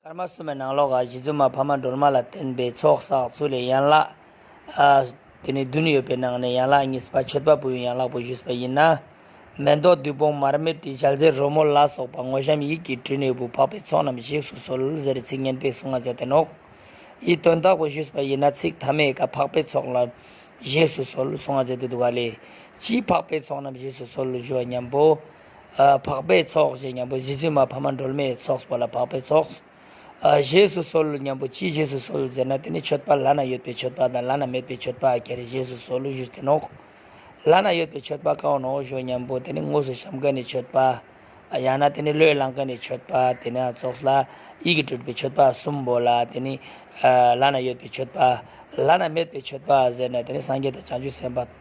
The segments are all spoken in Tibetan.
སྐར་མ་གསུམ་པའི་ནང་ལོགས་ཀ་བཞི་བཙུན་མ་ཕ་མ་སྒྲོལ་མ་ལ་བརྟེན་པའི་ཚོགས་བསགས་ཚུལ་ལས་ཡན་ལག་དེ་ནས་བདུན་ཡོད་པའི་ནང་ནས་ཡན་ལག་གཉིས་པ་མཆོད་པ་པོའི་ཡན་ལག་པོ་བཞུགས་པ་ཡིན། མེ་ཏོག་བདུད་དཔུང་མར་མེ་སྤྲིན་ཞགས་ཟེར་རོལ་མོ་ལ་སོགས་པ་ངོ་བཤམས་ཡིད་ཀྱིས་དྲིལ་ནས་བུ་འཕགས་པའི་ཚོགས་རྣམས་གཞིགས་སུ་གསོལ་ཟེར་ཚིག་སྙན་པའི་གསུང་ང་མཛད་དེ་ནོག་ཡིད་རྟོན་བདག་པོ་བཞུགས་པ་ཡིན། ཚིག་ཐ་མས་ཀ་འཕགས་པའི་ཚོགས་རྣམས་གཞིགས་སུ་གསོལ་གསུང་ང་མཛད་དེ་འདུག་ག་ལས་ཀྱིས་འཕགས་པའི་ཚོགས་རྣམས་གཞིགས་སུ་གསོལ་ཞུ་བ་སྙམ་པོ། འཕགས་པའི་ཚོགས་ཞེས་སྙམ་པོ་བཞི་བཙུན་མ་ཕ་མ་སྒྲོལ་མའི་ཚོགས་པ་ལ་འཕགས་པའི་ཚོགས། བཞེས་སུ་གསོལ་སྙམ་པོ་ཅིའི་བཞེས་སུ་གསོལ་ཟེར་ན་དེ་ནི་མཆོད་པ་ལ་ན་ཡོད་པའི་མཆོད་པ་དང་ལ་ན་མེད་པའི་མཆོད་པ་གྱེར་བཞེས་སུ་གསོལ་བཞུགས་སྟེ་ནོ། ལ་ན་ཡོད་པའི་མཆོད་པ་གང་ནོ་ཞོ་སྙམ་པོ་དེ་ནི་དངོས་སུ་བཤམ་མཁན་ནི་མཆོད་པ། ཡང་ན་དེ་ནི་བློས་བླངས་མཁན་ནི་མཆོད་པ་དེ་ནི་ཚོགས་ལ་ཡིད་ཀྱིས་སྤྲུལ་པའི་མཆོད་པ་གསུམ་པོ་ལ་དེ་ནི། ལ་ན་ཡོད་པའི་མཆོད་པ། ལ་ན་མེད་པའི་མཆོད་པ་ཟེར་ན་དེ་ནི་སངས་རྒྱས་དང་བྱང་ཆུབ་སེམས་དཔའ།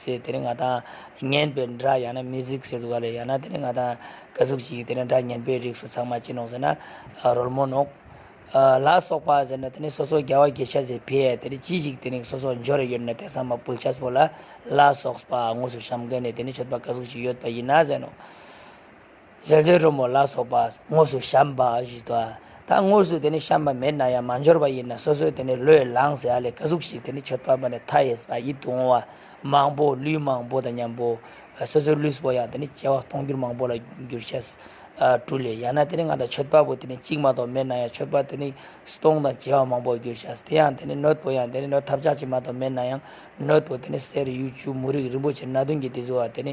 ཟེར་དེ་ནས་ང་དང་ངན་པའི་འདྲ་ཡང་ན་མི་གཟིགས་ཟེར་འདུག་ག་ལེ་ཡང་ན་དེ་ནས་ང་དང་དགའ་གཟུགས་ཤིག་གིས་དེ་ནས་འདྲ་ངན་པའི་རིགས་སུ་ཚང་མ་ཅི་ནོག་ཟེར་ན་རོལ་མོ་ནོག། ལ་སོགས་པ་ཟེར་ནས་དེ་ནས་སོ་སོ་རྒྱལ་བ་དགེ་ཤ་ཟེར་བས་དེ་ནས་ཅི་ཞིག་དེ་ནས་སོ་སོ་འབྱོར་རེ་ཡོད་ན་དེ་ཚང་མ་བུལ་ཆ་སོ་ལ་ལ་སོགས་པ་དངོས་སུ་བཤམ་ག་ནས་དེ་ནས་མཆོད་པ་དགའ་གཟུགས་ཤིག་ཡོད་པ་ཡིན་ན་ཟེར་ནོ། ཟས་ཟོས་རོལ་མོ་ལ་སོགས་པ་དངོས་སུ་བཤམས་པ་བཞིན་དུ། ད་དངོས་སུ་དེ་ནི་བཤམས་པ་མེད་ན་ཡང་མ་འབྱོར་བ་ཡིན་ན་སོ་སོའི་དེ་ནི་བློས་བསླངས་ཟས་ཨ་ལས་ཀ་གཟུགས་ཤིག་དེ་ནི་མཆོད་པ་པོ་ནས་མཐའ་ཡས་པ་ཡིད་དུ་འོང་བ་མང་པོ་ལུས་མང་པོ་དང་མཉམ་པོ། སོ་སོའི་ལུས་པོ་ཡང་དེ་ནི་སྐྱེ་བ་སྟོང་འགྱུར་མང་པོ་ལ་འགྱུར་བྱ། སྤྲུལ་ལས་ཡང་ན་དེ་ནི་ང་དང་མཆོད་པ་པོ་དེ་ནི་གཅིག་མ་གཏོགས་མེད་ན་ཡང་མཆོད་པ་དེ་ནི་སྟོང་དང་བྱེ་བ་མང་པོར་འགྱུར་བྱ། དེ་ཡང་དེ་ནི་ནོད་པོ་ཡང་དེ་ནི་ནོད་ཐབས་ཆགས་ཅིག་མ་གཏོགས་མེད་ན་ཡང་ནོད་པོ་དེ་ནི་གསེར་གཡུ་ཆུ་མུ་རིགས་རིན་པོ་ཆེ་སྣ་བདུན་གྱིས་དེ་བཟོ་བ་དེ་ནི